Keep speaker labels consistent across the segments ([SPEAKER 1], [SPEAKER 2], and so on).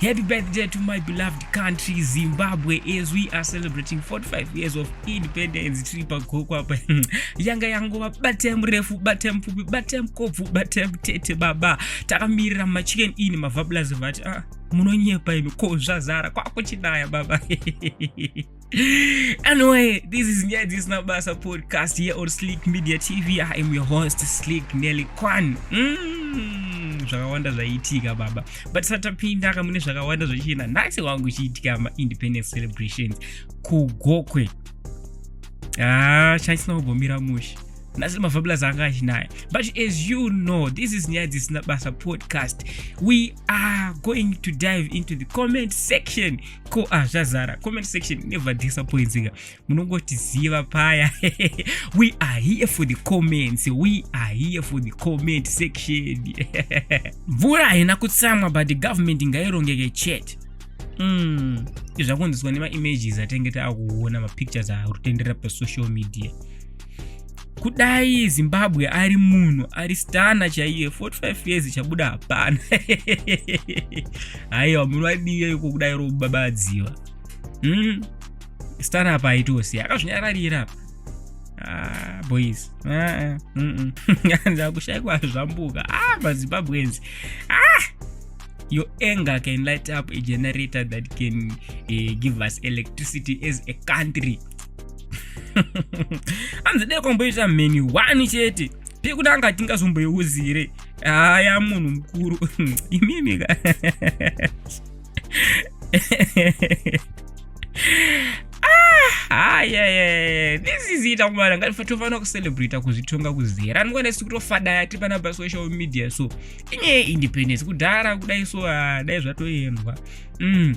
[SPEAKER 1] Happy birthday to my beloved country Zimbabwe as we are celebrating 45 years of independence tiri pagoko apa yanga yangova batai murefu batai mupfupi batai mukobvu batai mutete baba takamirira machicken in mavablas vati ah, munonyepa imi ko zvazara kwakuchinaya baba anyway, this is Nyaya Dzisina Basa podcast here on Slick Media TV. I am your host, Slick Nelly Kwan. Mm, zvakawanda zvaiitika baba but satapinda kamune zvakawanda zvachienda nhasi wangu chiitika maindependence celebrations kugokwe ah, chaisina kugomira mushe nhasi mafabulous anga achinaya but as you know this is nyaya dzisina basa podcast we are going to dive into the comment section ko ah zvazara comment section never disappointinga munongotiziva paya we are here for the comments we are here for the comment section mvura haina kutsamwa but the government ngairongeke chete mm. izvakunziswa nemaimages atenge taakuona mapictures arutenderera pasocial media kudai zimbabwe ari munhu ari stana chaiye 45 years chabuda hapana haiwa munhu vadii iko kudai robabadziwa mm. stana apa aitose akazvinyararira apa ah, boys ah, mm -mm. ndakushaikwa zvambuka ah, mazimbabwenzi ah! your anger can light up a generator that can uh, give us electricity as a country hanzi dai kwamboita mheni one chete pekutanga tingazomboiuzire haya munhu mukuru imimika hayayayaa ah, this is it akumana ngatofana kucelebrata kuzvitonga kuzera anokwana si kutofadaya tiri pana pasocial media so inyaya independence kudhara kudai so ah, dai zvatoendwa mm.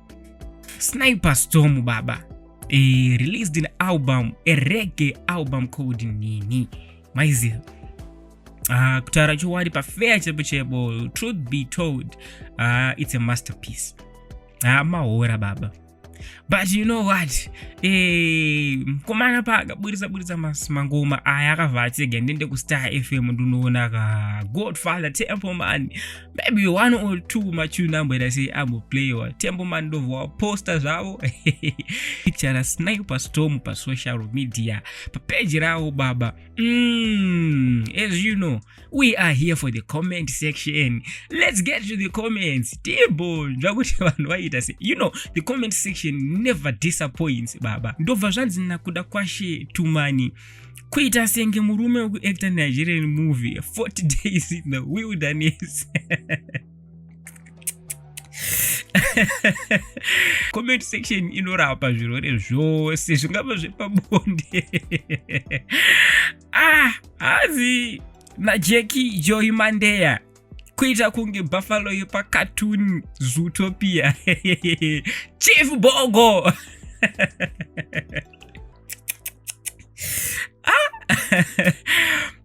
[SPEAKER 1] Sniper Storm baba e, released an album a reggae album called nini maiziva uh, ah, kutaura chokwadi pafeya chebo chebo truth be told uh, it's a masterpiece uh, mahora baba but you know what eh, mkomana e, paakaburitsa buritsa mangoma aya akavhatsega ndende kustar fm ndinoona ka godfather temple mani maybe one or two machuna amboita sei amboplayiwa tembo mandovhu waposta zvavo chara snai pastorm pasocial media papeji ravo baba mm, as you know we are here for the comment section let's get to the comments timbonzva kuti vanhu vaiita se you know the comment section never disappoints baba ndobva zvanzi nakuda kwashe tumani kuita senge murume wekuacta nigerian movie 40 days in the wilderness comment section inorapa zvirwere zvose zvingava zvepabonde ah hazi najeki joy mandeya kuita kunge buffalo yepacatoon zootopia chief bogo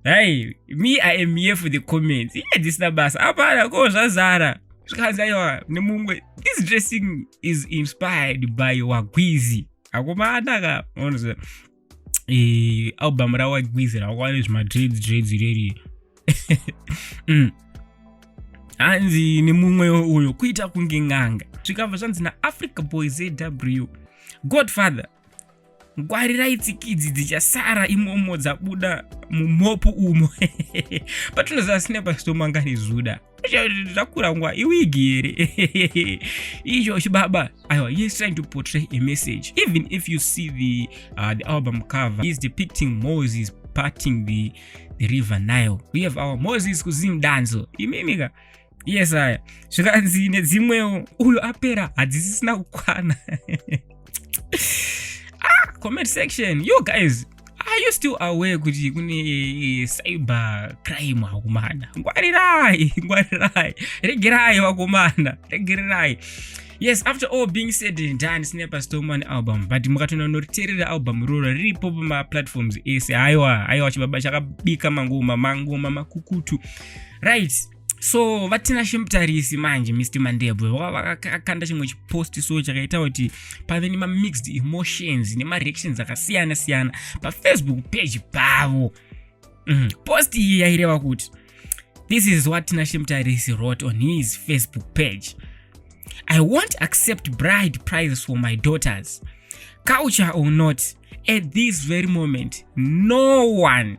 [SPEAKER 1] hai me i am here for the comments iye yeah, dzisina basa apana ko zvazara zvikanzi aiwa nemumwe this dressing is inspired by wagwizi akomana ka e, album rawagwizi rakwava nezvimadreads dreads ireri mm. hanzi nemumwe uyo kuita kunge ng'anga zvikabva zvanzi naafrica boy zw godfather ngwarirai tsikidzi dzichasara imomo dzabuda mumhopu umo patinoziva sinepa stomangani zuda zvakurangwa iwigi here izvo chibaba aiwa he is trying to portray a message even if you see the, uh, the album cover he is depicting moses parting the, the river nile we have our moses kuzim danzo imimika yes aya zvikanzi nedzimwewo uyo apera hadzisisina kukwana ah, comment section you guys are you still aware kuti kune eh, cyber crime vakomana ngwarirai ngwarirai regerai vakomana regererai yes after all being said and done sine pastorman album but mukatona noriterera album iroro riripo pamaplatforms ese haiwa haiwa chibaba chakabika mangoma mangoma makukutu right so vatina shimtarisi manje mr mandebwe vakakanda chimwe chipost so chakaita kuti pave nemamixed emotions nemareactions akasiyana siyana pafacebook page pavo mm. post iyi yaireva kuti this is what tina shimtarisi wrote on his facebook page i won't accept bride prize for my daughters culture or not at this very moment no one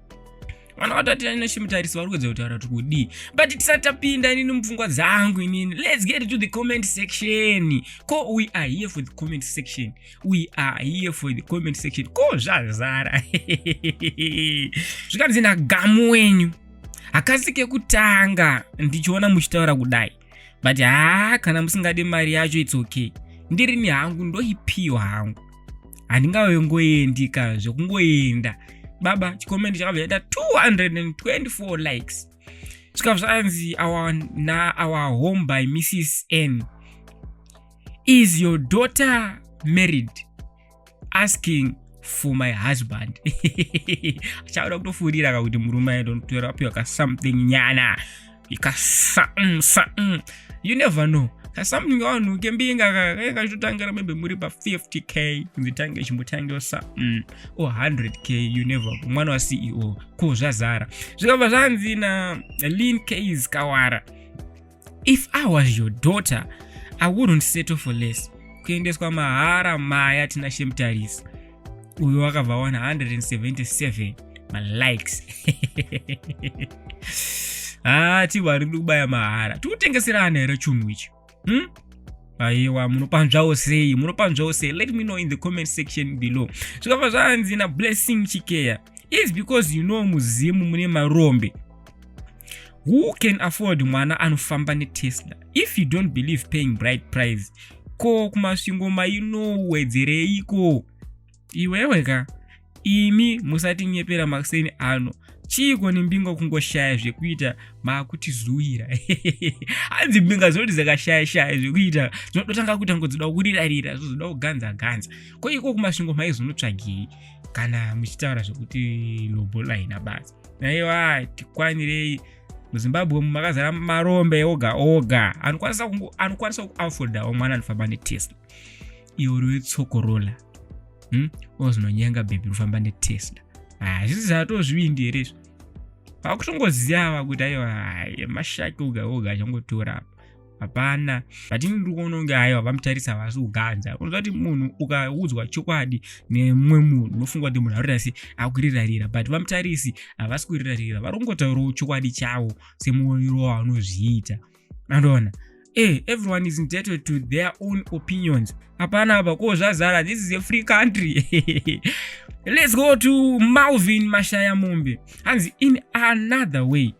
[SPEAKER 1] vana vatati ane chimutarisi vari kuedza kutaura kuti kudii but tisati tapinda inini mupfungwa dzangu inini let's get to the comment section ko we are here for the comment section we are here for the comment section ko zvazara zvikanzi nagamu wenyu hakasi kekutanga ndichiona muchitaura kudai but haa kana musingade mari yacho its okay ndirini hangu ndoipiwa hangu handingave ngoendi ka zvekungoenda baba chikomenti chakabva chaita 224 likes zvikabva zvanzi our, na our home by mrs n is your daughter married asking for my husband achauda kutofurira ka kuti murume aitotora apiwa ka something nyana ka something something you never know ka something wanhu kembinga kakatotangira maybe muri pa 50k kunzi tange chimbotangira something or 100k you never know mwana wa ceo ko zvazara zvikabva zvanzi na lin keyes kawara if i was your daughter i wouldn't settle for less kuendeswa mahara maya tina shemtarisi uyo wakabva 177 malikes haa ah, tiwari kubaya mahara tikutengeserana here chunhu ichi hmm? aiwa munopanzvawo sei munopanzvawo sei let me know in the comment section below zvikabva zvanzi nablessing chikeya is because you know muzimu mune marombe who can afford mwana anofamba netesla if you don't believe paying bright price ko kumasvingo mainowedzereiko iwewe ka imi musatinyepera makuseni ano chiiko nembinga kungoshaya zvekuita maakutizuwira hanzi mbinga dzinoti dzakashaya shaya zvekuita dzinototanga kuita ngo dzoda kurirarira zvozoda kuganza ganza ko iko kumasvingo maizonotsvagei kana muchitaura zvekuti lobola haina basa naiwa tikwanirei muzimbabwe umu makazara marombe oga oga anokwanisa kungu anokwanisa kuafodawo mwana anofamba netesla iwo riwe tsokorola hmm? ozinonyenga bhebhi rofamba netesla hazvisi ah, zvatozvivindi here izvo vakutongoziva vakuti aiwa mashaki oga oga achangotora apa hapana but ini ndiri kuona kunge aiwa vamutarisa vasi kuganza unoziva kuti munhu ukaudzwa chokwadi nemumwe munhu unofunga kuti munhu arikuita se akurirarira but vamutarisi havasi kurirarira vari kungotaurawo chokwadi chavo semuonero wavanozviita andoona hey, eh, everyone is entitled to their own opinions hapana apa ko zvazara this is a free country let's go to malvin mashaya mombe hanzi in another way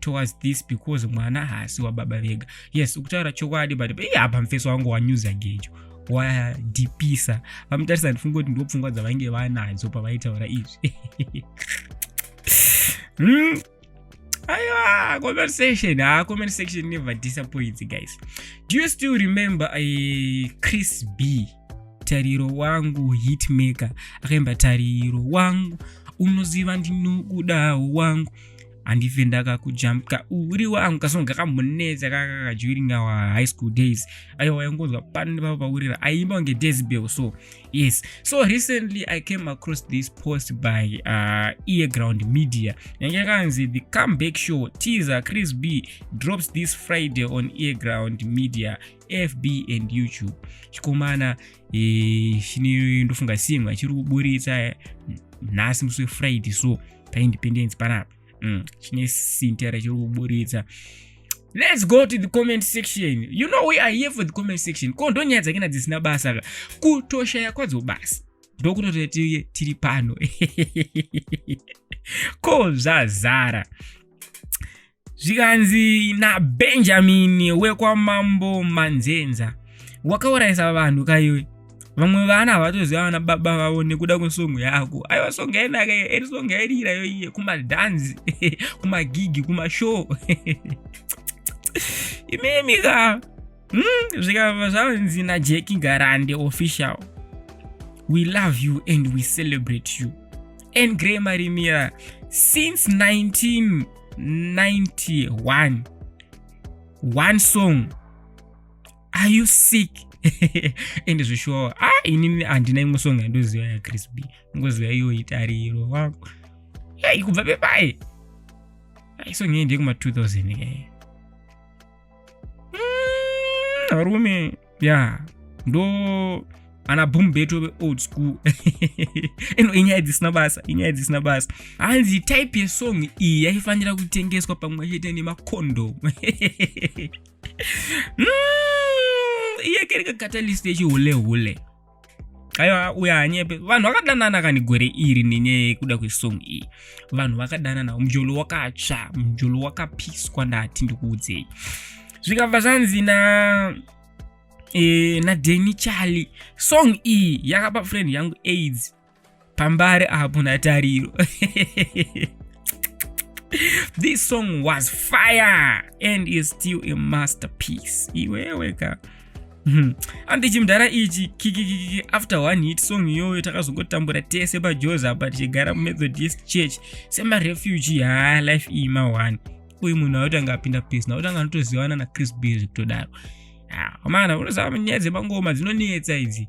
[SPEAKER 1] towards this because mwana haasi wababa vega yes ukutaura chokwadi but iye apa mfeso wangu wanyuza gejo wadhipisa vamutarisa ndifunge kuti ndopfungwa dzavainge vanadzo pavaitaura izvi hmm? aiwa comment section ha ah, comment section never disappoints guys do you still remember a eh, chris b tariro wangu hitmaker akaimba tariro wangu unoziva ndinokudawo wangu handife ndakakujambka uri wangu kasonga kamunetsa kakaka during our high school days aiwa waingonzwa pano nepapa paurira aiimba kunge desbel so yes so recently i came across this post by uh, earground media yange yakanzi the comeback show teaser chris b drops this friday on earground media fb and youtube chikomana chine ndofunga simwa chiri kuburitsa nhasi musi wefriday so paindependence panapa mm, chine sintera chiri kuburitsa let's go to the comment section you know we are here for the comment section ko ndonyaya dzakena dzisina basa ka kutoshaya kwadzo basa ndokutoti tiye tiri pano ko zvazara zvikanzi nabenjamini wekwamambo manzenza wakaurayisa vanhu kaiwe vamwe vana havatoziva vana baba vavo nekuda kwesongo yako aiwa songo yainaka eri songo yairira yoiye kumadhanzi kumagigi kumashow imimi ka hmm, zvikava zvanzi najeki garande official we love you and we celebrate you and grey marimira since 19 91 one song are you sick ende zveshuwa ah inini handina imwe song yandoziva yachris b ngoziva iyo itariro wako yai kubva pepai isong yei ndeyekuma 2000 iyeye mm, varume ya ndo ana boom beto veold school ino inyaya dzisina basa inyaya dzisina basa hanzi type yesong iyi yaifanira kutengeswa pamwe chete nemacondo mm, iyekereka catalyst yechihule hule, hule. aiwa uya hanyepe vanhu vakadanana kani gore iri nenyaya yekuda kwesong iyi vanhu vakadanana mujolo wakatsva mujolo wakapiswa ndati ndikuudzei zvikabva zvanzi na e, nadeni charlie song iyi yakapa friend yangu aids pambare apo natariro this song was fire and is still a masterpiece iwewe ka hmm. andi chimdhara ichi kikikiki after one hit song iyoyo takazongotambura tese pajoza apa tichigara mumethodist church semarefuge haa life iyi mawani uyu munhu auti anga apinda pesi nauti anga anotozivana nachris bill zvekutodaro amana ah, unozava nyaya dzemangoma dzinonetsa idzi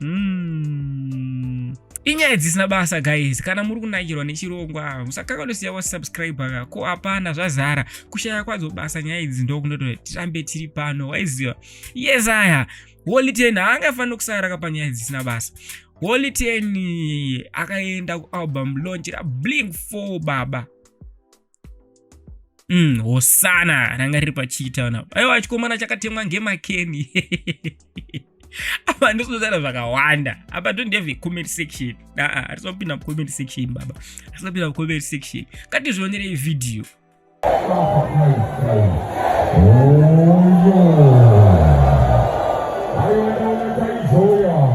[SPEAKER 1] mm. inyaya dzisina basa guys kana muri kunakirwa nechirongwa musakanganosiya wasubscribaka ko hapana zvazara kushaya kwadzo basa nyaya idzi ndokunoto tirambe tiri pano waiziva yes aya holy ten haangafanira kusaraka panyaya dzisina basa holy ten akaenda kualbum launch rabling four baba Mm, hosana ranga riri pachiita na aiwa chikomana chakatemwa ngemakeni apa ndisinotaura zvakawanda apa don't have a comment section aa hatisapinda mucomment section baba hatisapinda mucomment section katizvionerei vhidhiyo oh, yeah.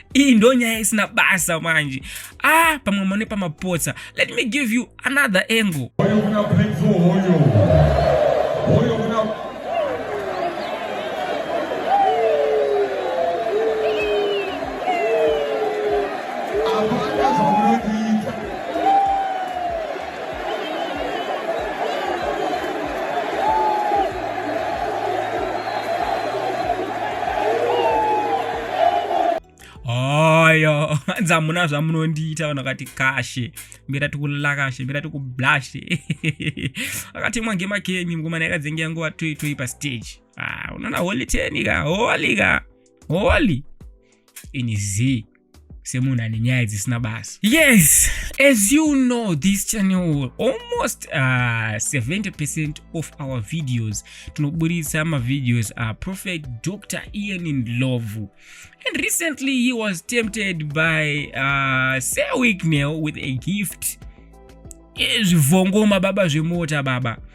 [SPEAKER 1] iyi ndo nyaya isina basa manje ah pamwe mone pamapotsa let me give you another angle hanzi hamuna zvamunondiita vanhu vakati kashe mbira tikulila kashe mbira tikublashe akatemwa ngema kemi mngomana yakadzenge yanguva toi toi pastage ah, unoona holy tenika holy ka holy ini zii semunhu ane nyaya dzisina basa yes as you know this channel almost uh, 70 percent of our videos tinoburitsa mavideos a uh, prophet dr ian in love and recently he was tempted by uh, sir wicknell with a gift zvivhongoma baba zvemota baba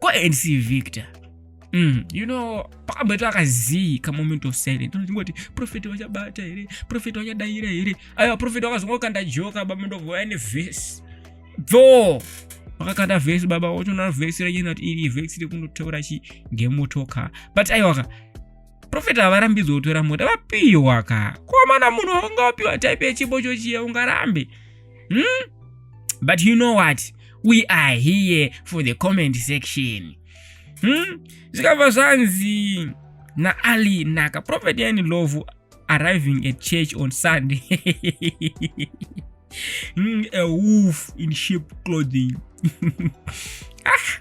[SPEAKER 1] ko nd victor Mm, you know pakamboitwa kazii kamoment of silent unongoti profeti wachabata here profeti wachadaira here aiwa profeti wakazongokanda joka baba ndovouya nevhesi bvoo wakakanda vhesi baba wotoona vhesi ranyena kuti iri vhesi rekundotaura chi ngemotoka but aiwaka profeti havarambidzwe kutora mota vapiwa ka komana munhu waunga wapiwa type yechipo chochiya ungarambe hmm? but you know what we are here for the comment section hmm? zvikabva zvanzi naali naka profeti yani lovu arriving at church on sunday mm, a wolf in sheep clothing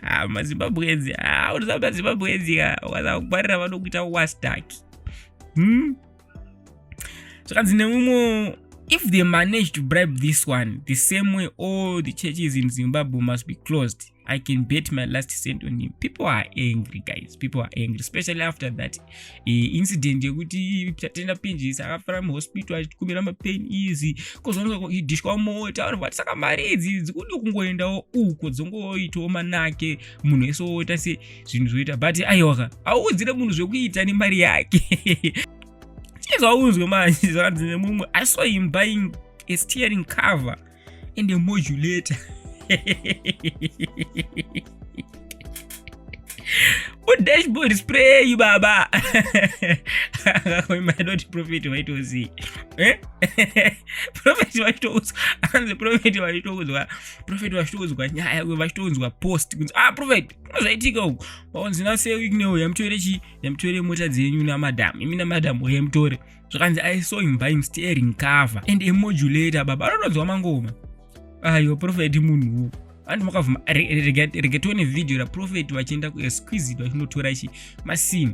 [SPEAKER 1] ah, mazimbabwenzi ah, unoziva mazimbabwenzi ka ah, ukazaa kungwarira vanokuita wastaki hmm? zvakanzi neumwe if they manage to bribe this one the same way all the churches in zimbabwe must be closed I can bet my last cent on him. People are angry, guys. People are angry, especially after that uh, incident yekuti tatenda pinjisi akafara muhospital achikumira mapain easy kozonidishwa mota vanhu vati saka mari idzi idzi kudi kungoendawo uko dzongoitawo manake munhu wese woita se zvinhu zvoita but aiwaka auudzire munhu zvekuita nemari yake chezvaunzwe manje zvakanzi nemumwe i saw him buying a steering cover and a modulator udashboard spray baba akakoimadoti profet vaitozii eh? profet vachitoudzwa anzi profet vachitoudzwa profet vachitoudzwa nyaya uyo vachitoudzwa post kunzi ah profet zvaitika uku vaonzi naseweek neuyo yamutore chii yamutore mota dzenyu namadam imi namadam uyo yamutore zvakanzi i saw him buying steering cover and a modulator baba anotonzwa mangoma ayo profeti munhuwo vanhu makavhuma rega tione vhidhiyo raprofeti vachienda kuexquisite vachinotora chi masini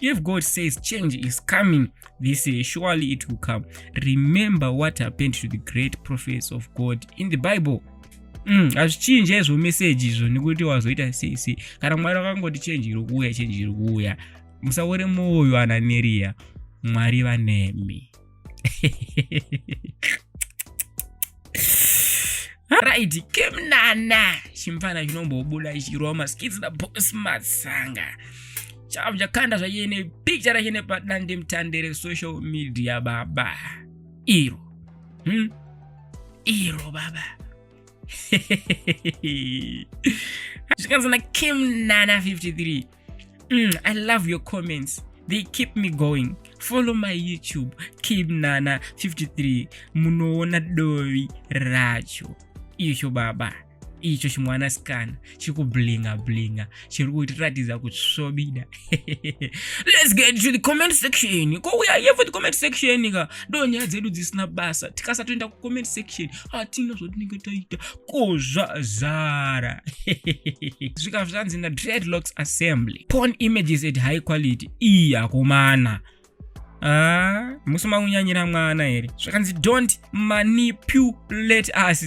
[SPEAKER 1] If God says change is coming this year, surely it will come. Remember what happened to the great prophets of God in the Bible. Mm, hazvichinje izvo meseji izvo nekuti wazoita sei sei kana mwari wakangoti chenji iri kuuya chenji iri kuuya musaore mwoyo ananeriya mwari vanemi right kemnana chimfana chinombobuda chichirova maskits na boss matsanga chavo chakanda zvaiye nepicture racho nepadande mutande resocial media baba iro hmm? iro baba zvikanzi na kemnana 53 mm, i love your comments they keep me going follow my youtube keep nana 53 munoona dovi racho icho baba icho chimwana sikana chiri kublinga blinga chiri kutiratidza kutsvobida let's get to the comment section ko uya yevo the comment section ka ndo nyaya dzedu dzisina basa tikasatoenda kucomment section hatina zvatinenge taita kuzvazara zvika zvanzi na dreadlocks assembly porn images at high quality iyi akomana Ah, musi makunyanyira mwana here zvakanzi don't manipulate us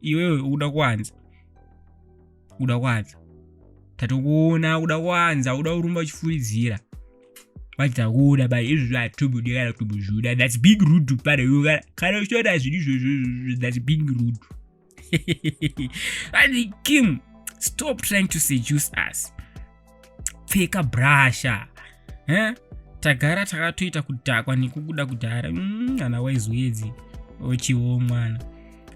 [SPEAKER 1] iwewe ukuda kuwanza ukuda kuwanza tatokuona ukuda kuwanza ukuda kurumba uchifuridzira vachitakuona bai izvi zvatubudi kana tubuzvuda thats big rude pane iwe kana uchiona zvinhu izvozvo thats big rude and kim stop trying to seduce us pfeka brasha eh? tagara takatoita kudhakwa nekukuda kudhara ana mm, waizoedzi ochiwo mwana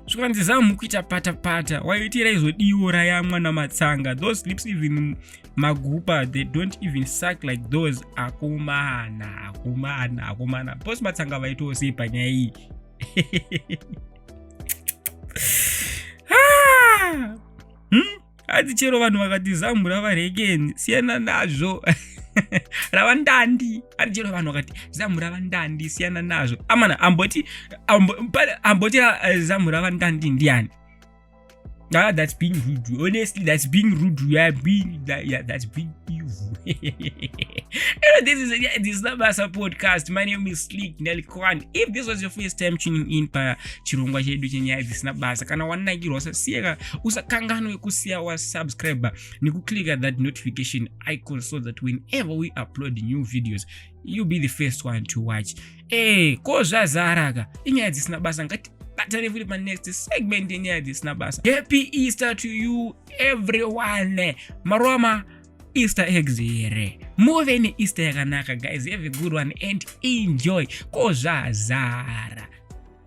[SPEAKER 1] zvikanzi zamu kuita patapata waiitira izodiwo raya mwana matsanga those sleeps even magupa they don't even suck like those akomana akomana akomana bos matsanga vaitowo sei panyaya iyi ah! hmm? hanzi chero vanhu vakati zambu rava rekeni siyana nazvo rava ndandi hanzi chero vanhu vakati zambu rava ndandi siyana nazvo amana amboti amboti eh, zambu rava ndandi ndiani Ah, that's being rude. Honestly, that's being rude. You are being that, yeah, that's being evil. this is yeah, this is not Basa podcast. My name is Slick Nelly Kwan. If this was your first time tuning in pa chirongwa chedu chenyaya dzisina basa kana wanakirwa sasiyeka usakanganwe kusiya wasubscriber nekuclicka that notification icon so that whenever we upload new videos you be the first one to watch e eh, ko zvazaraka inyaya dzisina basa ngati batane futi panext segment yenyaya dzisina basa happy easter to you everyone maroma easter eggs here muve neeaster yakanaka guys have a good one and enjoy ko zvazara